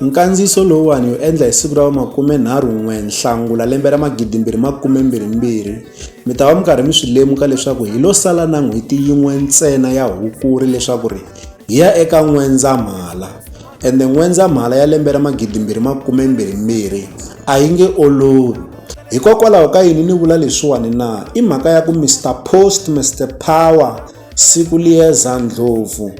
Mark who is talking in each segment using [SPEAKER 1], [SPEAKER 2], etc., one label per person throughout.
[SPEAKER 1] Nkandziyiso lowuwani hi wu endla hi siku ra vu 31 Nhlangula lembe ra 2022. Mi ta va mi karhi mi swi lemuka leswaku hi lo sala na n'hweti yin'we ntsena ya Hukuri leswaku ri hi ya eka N'wendzamhala. Ende N'wendzamhala ya lembe ra 2022 a yi nge olovi. Hikokwalaho ka yini ni vula leswiwani na? I mhaka ya ku Mister Post, Mister Power, Siku Liyeza Ndlopfu,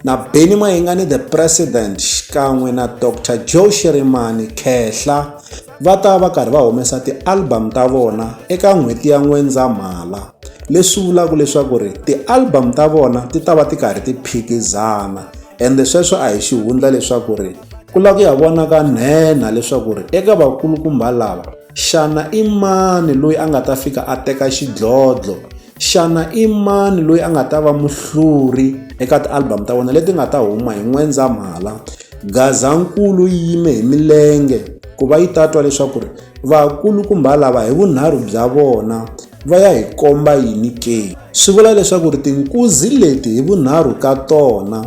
[SPEAKER 1] na Benny Mayengani the president xikan'we na Dr Joe Shirimani Khehla va ta va karhi va humesa ti-album ta vona eka n'hweti ya N'wendzamhala leswi vulaka leswaku ri ti-album ta vona ti ta va ti karhi ti phikizana ende sweswo a hi xihundla leswaku ri ku lava ku ya vona ka nhenha leswaku ri eka vakulukumba lava xana i mani loyi a nga ta fika a teka xidlodlo Xana i mani loyi a nga ta va muhluri eka ti-album ta vona leti nga ta huma hi N'wendzamhala? Gazankulu yi yime hi milenge ku va yi ta twa leswaku ri vakulukumba lava hi vunharhu bya vona va ya hi komba yini ke. Swi vula leswaku ri tinkuzi leti hi vunharhu ka tona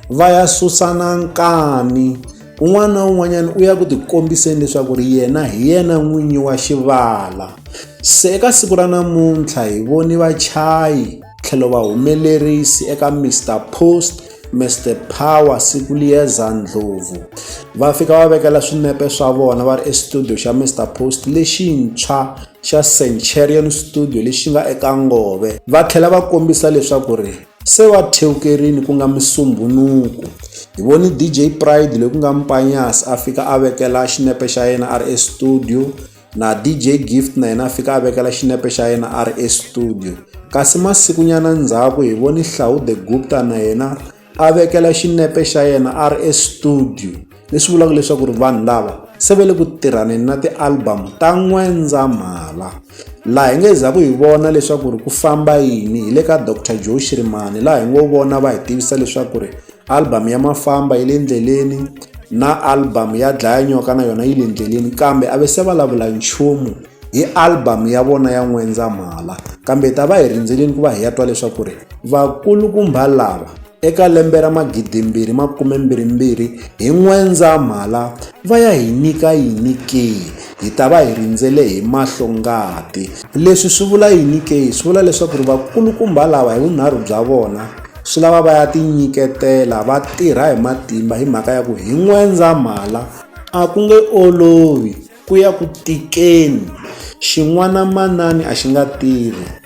[SPEAKER 1] va ya susana nkani. un'wana na un'wanyana u ya ku tikombiseni leswaku ri yena hi yena n'winyi wa xivala se eka siku ra namuntlha hi voni vachayi tlhelo va humelerisi eka mr post mr power siku liyeza ndlhovu va fika va vekela swinepe swa vona va ri estudio xa mr post lexintshwa xa centurion studio lexi nga eka ngove va tlhela va kombisa leswaku ri Se wa thewukerini ku nga Musumbunuku. Hi vone DJ Pride loyi ku nga Mpanyas a fika a vekela xinepe xa yena a ri estudio, na DJ Gift na yena a fika a vekela xinepe xa yena a ri estudio. Kasi masikunyana ndzhaku hi vone Hlau The Gupta na yena a vekela xinepe xa yena a ri estudio. leswi vulaka leswaku ri vanhu lava se ve le ku tirhaneni na ti-album ta n'wendzamhala laha hi nge za ku hi vona leswaku ri ku famba yini hi le ka dr joe shirimani laha hi ngo vona va hi tivisa leswaku ri album ya mafamba yi le ndleleni na album ya dlaya nyoka na yona yi le ndleleni kambe a ve se va lavula nchumu hi album ya vona ya n'wendzamhala kambe hi ta va hi rindzeleni ku va hi ya twa leswaku ri vakulukumba lava Eka lembe ra magidimbirhi makumembirhimbirhi hi N'wendzamhala va ya hi nyika yini ke? Hi ta va hi rindzele hi mahlo ngati. Leswi swi vula yini ke? Swi vula leswaku ri vakulukumba lava hi vunharhu bya vona swi lava va ya tinyiketela va tirha hi matimba hi mhaka ya ku hi N'wendzamhala a ku nge olovi ku ya ku tikeni xin'wana manani a xi nga tirhi.